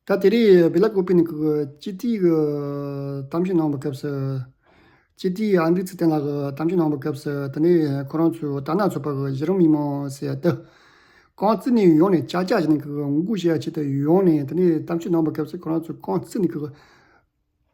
ད་དེ་རིང་སྦི་ལ་ཀོ་པི་ནི་ཁུལ་གྱི་སྤྱི་འཐུས་ཀྱི་གཏམ་བཤད་གནང་བའི་སྐབས་སུ། སྤྱི་འཐུས་ཨ་འབྲུག་ཚེ་བརྟན་ལགས་ཀྱིས་གཏམ་བཤད་གནང་བའི་སྐབས་སུ་ད་ནི་ཁོ་རང་ཚོའི་རྟ་ནག་ཚོགས་པ་གི་གཞི་རིམ་མི་མང་ཟེར་ཡ་འདི། རྐང་རྩེད་ནས་ཡོང་ནས་ཅག་ཅག་ཅིག་ནི་ཁུལ་གྱི་མགོ་སྐོར་བྱེད་ཆེད་དུ་ཡོང་ནས་ད་ནི་གཏམ་བཤད་གནང་བའི་སྐབས་སུ་ཁོ་རང་ཚོའི་རྐང་རྩེད་ནི་ཁུལ་གྱི།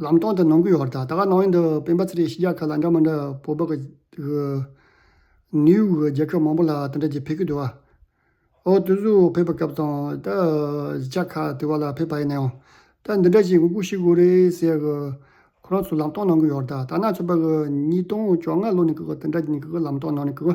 ལམ་སྟོང་དུ་ནང་ཁུལ་ཧོར་ཟླ་ད་ག་སྣང་བའི་འདི་སྤེན་པ་ཚེ་རིང་ཤི་རྒྱག་ཁ་ལ་འདྲ་མ་འདྲ་བོད་པ་གི་གི། ནིའུ་ཡོག་གི་རྒྱལ་ཁབ་མང་པོ་ལ་དེ་འདྲ་གྱི་ཕེ་ཁི་དུ་བ། ཨོ་དུ་སུ་ཕེབས་པའི་སྐབས་དང་ད་གཞི་ཆག་ཁ་དུ་བ་ལ་ཕེབས་པ་ཡིན་ནའང་ད་འདི་འདྲ་ཞིག་ངུ་གུ་ཤི་གུ་རེ་ཟེར་གི། ཁོ་རང་ཚོ་ལམ་སྟོང་ནང་ཁུལ་ཧོར་ཟླ་ད་ནང་ཆོས་པ་གི་ཉིས་སྟོང་བཅོ་ལྔ་ལོ་ནས་གི་གི་དེ་འདྲ་གྱི་ནི་གི་གི་ལམ་སྟོང་ནང་ནས་གི་གི།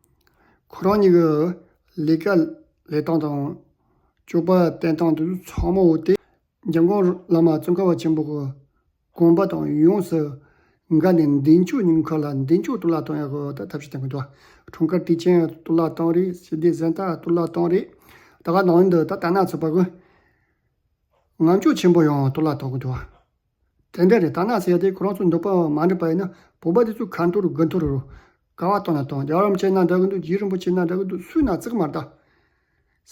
ཁོ་རང་ཉིད་ཀྱི་ལས་ཀ་ལས་སྟངས་དང། སྤྱོད་པ་བསྟེན་སྟངས་དུ་ཚང་མ་འོ་དེ། འཇམ་དབྱངས་བླ་མ་ཙོང་ཁ་བ་ཆེན་པོ་གི་དགོངས་པ་དང་ཡོངས་སུ་འགལ་ནས་མདུན་ལྕོག་ཉུང་མཁར་ལ་མདུན་ལྕོག་གཏོར་བརླག་བཏང་ཡག་གི་ཐབས་ཤེས་དང་གི་འདུག་འཁྲུངས་སྐར་དུས་ཆེན་གཏོར་བརླག་བཏང་རེད་ཞི་བདེ་གཟེངས་རྟགས་གཏོར་བརླག་བཏང་རེད་ད་ག་ནང་འདི་ད་ལྟ་ན་ཚོད་དཔག་གི། ངམ་ལྕོག་ཆེན་པོ་ཡང་གཏོར་བརླག་བཏང་གི་འདུག། དེ་འདྲ་རེད་ད་ནགས་ཚལ་དེ་ཁོ་རང་ཚོ་འདུག་པའང་མ་འགྲིག་པ་ཡིན་ན་བོད་པ་དེ་ཚོས་ག་འཐོར་དགུ་འཐོར་རུ། ཀ་བ་བཏང་ན་བཏང་རྒྱ་གར་རམ་ཅན་ན་འདྲ་གི་འདུག་རྗེ་རིན་པོ་ཆེ་ན་འདྲ་གི་འདུག་སུས་ན་བརྩེགས་མར་བལྟ།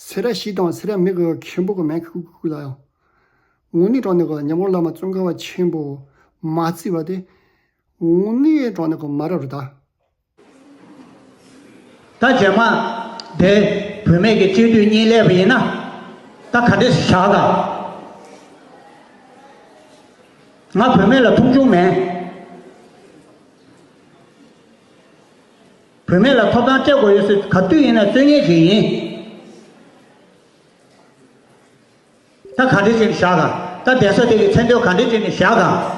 སེ་ར་ཞིག་དང་སེ་ར་མིག་གི་མཁན་པོ་གི་མན་ཁུ་ཁུ་ཁུ་ལ་ཡང། ངུ་ནི་གྲོང་ནི་གི་ཉམས་གོང་བླ་མ་ཙོང་ཁ་བ་ཆེན་པོ། མ་བརྩིས་པ་དེ། ངུ་ནི་གྲོང་ནི་གི་མ་རབས་རུ་བལྟ། ད་རྗེས་མ་དེ་བུད་མེད་ཀྱི་སྤྱོད་བསྡུས་གཉིས་བསླད་པ་ཡིན་ན། ད་ག་འདྲེ་ཞིག་བཞག་དང། ང་བུད་མེད་ལ་མཐོང་ཆུང་མེད། བུད་མེད་ལ་ཐོབ་ཐང་སྤྲད་དགོས་ཡོད་ཟེར་ག་དུས་ཡིན་ན་རྩོད་ངན་ཞིག་ཡིན། ད་ག་འདྲེ་ཅིག་ནི་བཞག་དང། ད་གདན་ས་དེ་གི་མཚན་དོན་ག་འདྲེ་ཅིག་ནི་བཞག་དང།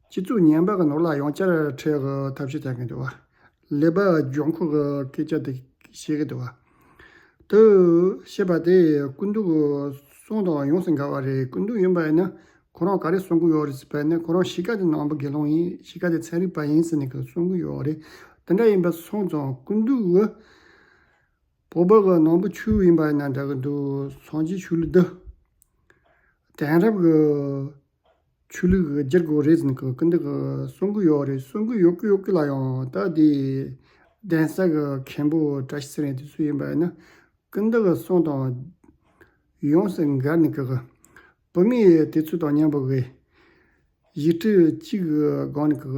སྤྱི་གཙུག་ཉེན་པ་གི་ནོར་ལག་ཡོངས་བསྐྱར་ཁྲལ་གི་ཐབས་ཤེས་བྱ་གི་འདུག་ལེ་བར་ལྗོངས་ཁུལ་གྱི་སྐད་ཆ་དེ་བཤད་གི་འདུག་དེ་བཤད་པ་དེ་ཀུན་ཏུ་གསུང་དང་ཡོངས་སུ་འགལ་བ་རེད་ཀུན་ཏུ་ཡིན་པ་ཡིན་ན་ཁོ་རང་ག་རེ་གསུང་གི་ཡོད་རེད་ཟེར་བ་ནི་ཁོ་རང་གཞིས་ཀ་དེ་ནང་པ་དགེ་སློང་ཡིན་གཞིས་ཀ་དེ་ཚན་རིག་པ་ཡིན་ཟེར་ནས་གི་གསུང་གི་ཡོད་རེད་དེ་འདྲ་ཡིན་པ་གསུང་ཙང་ཀུན་ཏུ་གི་བོད་པ་གི་ནང་པ་ཆུ་ཡིན་པ་ཡིན་ན་འདྲ་གི་འདུག་སངས་རྒྱས་ཆོས་ལུགས་འདི་དེང་རབས་གི་ཆོས་ལུགས་ཀྱི་སྒྱུར་བཀོད་རེད་ཟེར་གི་འདུག་གི་གསུང་གི་ཡོད་རེད་གསུང་གི་ཡོད་གི་ཡོད་གི་ལ་ཡང་ད་དེ་གདན་ས་གི་མཁན་པོ་བཀྲ་ཤིས་ཟེར་ནས་དེ་སུ་ཡིན་པ་ཡིན་ན་ཀི་འདི་གི་གསུང་དང། ཡོངས་སུ་འགལ་ནི་གི། བོད་མི་དེ་ཚོ་དང་མཉམ་པོ་གི། ཡིག་འཁྲི་གཅིག་གི་སྒང་ནི་གི་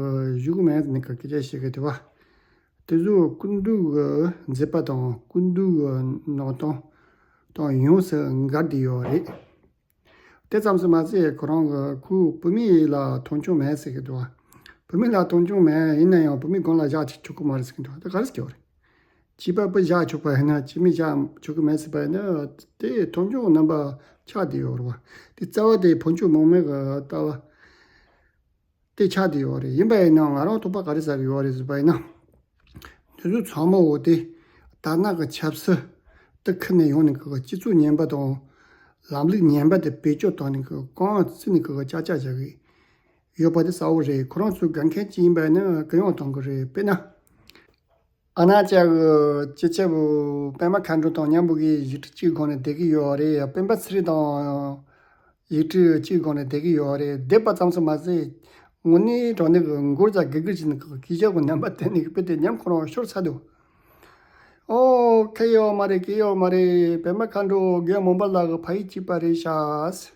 བཞུགས་མེད་ཟེར་ནི་གི་སྐད་ཆ་བཤད་གི་དེ་བ། དེ་ཚོ་ཀུན་འདུག་གི་མཛད་པ་དང་ཀུན་འདུག་གི་ནང་དོན་དང་ཡོངས་སུ་འགལ་འདི་ཡོད་རེད། དེ་ཙམ་ཟེར་མ་ཟད་ཁོ་རང་གི་ཁུལ་བོད་མི་ཡིད་ལ་མཐོང་ཆུང་མེད་ཟེར་གྱི་འདུག་བོད་མི་ལ་མཐོང་ཆུང་མེད་ཡིན་ན་ཡང་བོད་མི་དགོན་ལ་བཞག་ཆོག་གི་མ་རེད་ཟེར་གྱི་འདུག་དེ་ག་རེ་བྱེད་རེད། བྱིས་པ་པོ་བཞག་ཆོག་པ་ཡིན་ན་བྱིས་མི་བཞག་ཆོག་གི་མེད་ཟེར་པ་ཡིན་ན་དེ་མཐོང་ཆུང་རྣམ་པ་ཆགས་བསྡད་ཡོད་རེད་བ། དེ་རྩ་བ་དེ་བོན་ཆོས་མང་མོས་ཀྱི་ལྟ་བ། ཏེ་ཆགས་ཏེ་ཡོད་རེད་ཡིན་པ་ཡིན་ནའང་ང་རང་ཐུག་པ་ག་རེ་ཟ་རེ་ཡོད་རེད་ཟེར་པ་ཡིན་ན། དུས་ཚོད་ཚང་མ་འོག་དེ་དར་ནག་གི་ཆབ་སྲིད་དེ་ཁུར་ནས་ཡོང་ནས་གི་སྤྱི་ཚོགས་ངན་པ་དང། ལམ་ལུགས་ངན་པ་དེ་བེད་སྤྱོད་བཏང་ནས་གི་རྐང་བཙིར་ནས་གི་ཅག་ཅག་བྱ་གི་ཡོད་པ་དེ་གསལ་བོ་རེད་ཁོ་རང་ཚོའི་དགའ་མཁན་གཅིག་ཡིན་པ་ནི་གི་ཡོང་བཏང་གི་རེད་དཔེར་ན། ཨ་ན་ཅག་སྐྱིད་ཆབ་པད་མ་མཁའ་འགྲོ་དང་མཉམ་པོ་གི་ཡིག་འབྲུ་གཅིག་གི་སྒང་ནས་བསྡད་ཀྱི་ཡོད་རེད་སྤེན་པ་ཚེ་རིང་དང་ཡིག་འབྲུ་གཅིག་གི་སྒང་ནས་བསྡད་ཀྱི་ཡོད་རེད་བསྡད་པ་ཙམ་སོང་མ་ཟད་ངོ་ནི་དྲང་ནི་གི་མགུར་ཅག་དགེ་བསྐུལ་བྱེད་ཀྱི་སྐད་ཆ་གི་རྣམ་པ་དེ་ནི་དཔེ་དེབ་ཉམས་ཁོ་རང་ཤོར་ཚར་འདུག་ཨོ་ཁ་ཡོད་མ་རེད་གི་ཡོད་མ་རེད་པད་མ་མཁའ་འགྲོ་རྒན་མོ་འབའ་ལགས་ཀྱི་ཕ་ཡིག་གཅིག་པ་རེད་ཤག།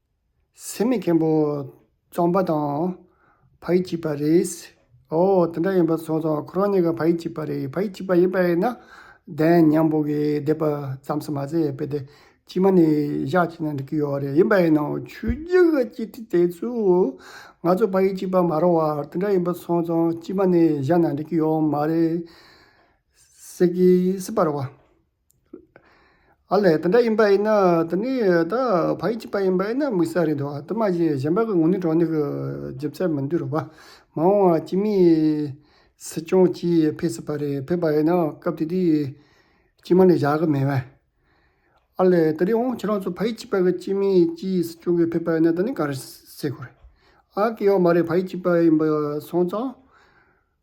སེམས་མེད་མཁན་པོ་རྩོམ་པ་དང་བག་ཡིག་གཅིག་པ་རེད། ཨོ་དེ་འདྲ་ཡིན་པ་སོང་ཙང་ཁོ་རང་གཉིས་ཀ་བག་ཡིག་གཅིག་པ་རེད་བག་ཡིག་གཅིག་པ་ཡིན་པ་ཡིན་ན་བདེན་སྙམ་པོ་གིས་བསྡད་པ་ཙམ་ཟེར་མ་ཟད་དཔེ་དེབ་ཕྱི་མ་ནས་བཞག་ཅིག་ན་འགྲིག་གི་ཡོད་རེད་ཡིན་པ་ཡིན་ནའོ་ཆོས་རྒྱུད་ཀྱི་སྤྱི་ཁྲི་དེ་ཚོས་ང་ཚོ་བག་ཡིག་གཅིག་པ་མ་རོགས་བར་དེ་འདྲ་ཡིན་པ་སོང་ཙང་ཕྱི་མ་ནས་བཞག་ན་འགྲིག་གི་ཡོད་མ་རེད། སྲིད་པ་རོགས། ཨ་ལས་དེ་འདྲ་ཡིན་པ་ཡིན་ན་དེ་ནི་ད་བ་ཡིག་གཅིག་པ་ཡིན་པ་ཡིན་ན་དམིགས་བསལ་རེད་འདུག་བ་དེ་མ་གཞི་གཞན་པ་གི་ངོ་ནི་གྲོགས་ནི་གི་ལྗིབ་ཚད་མི་འདུག་རོགས་པ་མ་འོང་བ་སྤྱི་མི་སྲིད་སྐྱོང་སྤྱི་ཕེ་སྲིད་པ་རེད་ཕེབས་པ་ཡིན་ན་སྐབས་དེ་དུས་སྤྱི་མ་ནི་བཞག་གི་མེད་བས། ཨ་ལས་དེ་རིང་འོང་ཁྱེད་རང་ཚོ་བ་ཡིག་གཅིག་པ་གི་སྤྱི་མི་སྤྱི་སྲིད་སྐྱོང་གི་ཕེབས་པ་ཡིན་ན་དེ་ནི་ག་རེ་བསྲེས་དགོས་རེད་ཨ་སྐད་ཡོག་མ་རེད་བ་ཡིག་གཅིག་པ་ཡིན་པ་སོང་ཙང།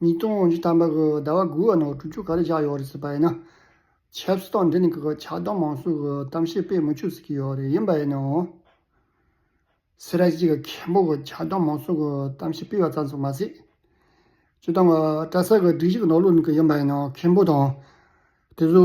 ཉིས་སྟོང་བཅུ་ཐམ་པ་གི་ཟླ་བ་དགུའི་ནང་དྲུག་ཅུ་ག་རེ་བཞག་ཡོད་རེད་ཟེར་པ་ཡིན་ན། ཆབ་སྲིད་སྟངས་འདི་ནི་གི་ཆགས་སྡང་མང་གསུམ་གི་གཏམ་བཤད་སྤེལ་མི་ཆོག་ཟེར་གྱི་ཡོད་རེད་ཡིན་པ་ཡིན་ནའང། སེ་ར་སྐྱིད་གི་མཁན་པོ་གི་ཆགས་སྡང་མང་གསུམ་གི་གཏམ་བཤད་སྤེལ་བ་ཙམ་སོགས་མ་ཟད། སྤྱིར་བཏང་གི་བཀྲ་ས་གི་སྒྲིག་གཞི་གི་ནང་ལུགས་ནི་གི་ཡིན་པ་ཡིན་ནའང་མཁན་པོ་དང། དེ་བཟོ།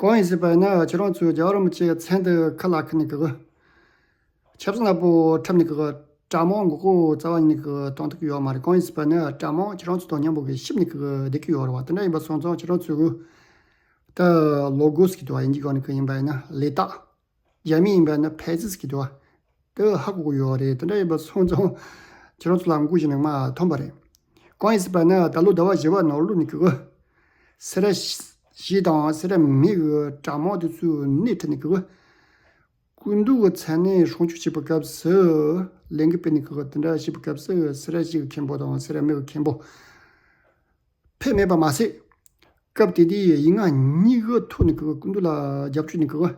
གང་ཡིན་ཞེས་པ་ཡིན་ན་ཁྱེད་རང་ཚོས་རྒྱ་རོ་མི་ཆེའི་མཚན་དེ་ཁ་ལག་ཁུར་ནས་གི་ཆབ་སྲིད་ནག་པོ་འཁྲབ་ནས་གི་དྲ་དམངས་མགོ་སྐོར་རྩ་བ་ཉིད་ནས་གི་གཏོང་ཐུབ་ཀྱི་ཡོད་མ་རེད་གང་ཡིན་ཞེས་པ་ཡིན་ན་དྲ་དམངས་ཁྱེད་རང་ཚོ་དང་མཉམ་པོ་གི་ཤིབ་ནས་གི་བསྡད་ཀྱི་ཡོད་རེད་བ་དེ་འདྲ་ཡིན་པ་སོང་ཙང་ཁྱེད་རང་ཚོས་གི་ད་ལོ་དགོས་སུ་གི་དུ་བ་ཡིན་གྱི་གང་ནས་གི་ཡིན་པ་ཡིན་ན་ལས་རྟགས། རྒྱ་མི་ཡིན་པ་ནི་ཕལ་ཆེར་གྱི་དོགས་འདི་ཧ་གོ་གི་ཡོད་རེད་དེ་འདྲ་ཡིན་པ་སོང་ཙང་ཁྱེད་རང་ཚོ་ལ་མགོ་གཞི་ནས་མ་ཐོན་པ་རེད། གང་ཡིན་ཟེར་པ་ནི་ད་ལོ་ཟླ་བ་བཞི་བ་ནང་ལོ་ནི་གི་གི། སེ་ར་བཞི་དང་སེ་ར་མི་གི་དྲ་མང་དེ་ཚོའི་སྣེ་ཁྲིད་ནས་གི་གི། སྐུ་མདུན་གྱི་མཚན་གནས་གཞུང་བཅུ་བྱེད་པའི་སྐབས་སུ་ལས་འགུལ་སྤེལ་ནས་གི་གི་དེ་འདྲ་བྱེད་པའི་སྐབས་སུ་སེ་ར་བཞི་གི་མཁན་པོ་དང་སེ་ར་མི་གི་མཁན་པོ། ཕས་སྨྲས་པར་མ་ཟད། སྐབས་དེ་དུས་ཡིག་ངག་གཉིས་ཀའི་ཐོག་ནས་གུ་དུ་ལ་རྒྱབ་སྐྱོར་ནི་གུ།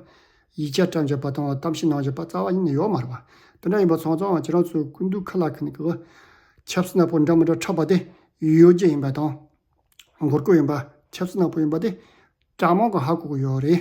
ཡིག་ཆ་བཀྲམ་བྱས་པ་དང་གཏམ་བཤད་གནང་བྱས་པ་རྩ་བ་ནས་ཡོག་མ་རེད་པ། དེ་འདྲ་ཡིན་པ་ཚང་ཚང་ཁྱེད་རང་ཚོའི་གུ་དུ་ཁ་ལག་ཁ་ནས་གུ། ཆབ་སྲིད་ནག་པོ་འདྲ་མི་འདྲ་འཁྲབ་པ་དེ་ཡོད་རྒྱུ་ཡིན་པ་དང། མགོ་སྐོར་ཡིན་པ་ཆབ་སྲིད་ནག་པོ་ཡིན་པ་དེ་དྲག་དམག་གི་ཧ་གོ་གི་ཡོག་རེད།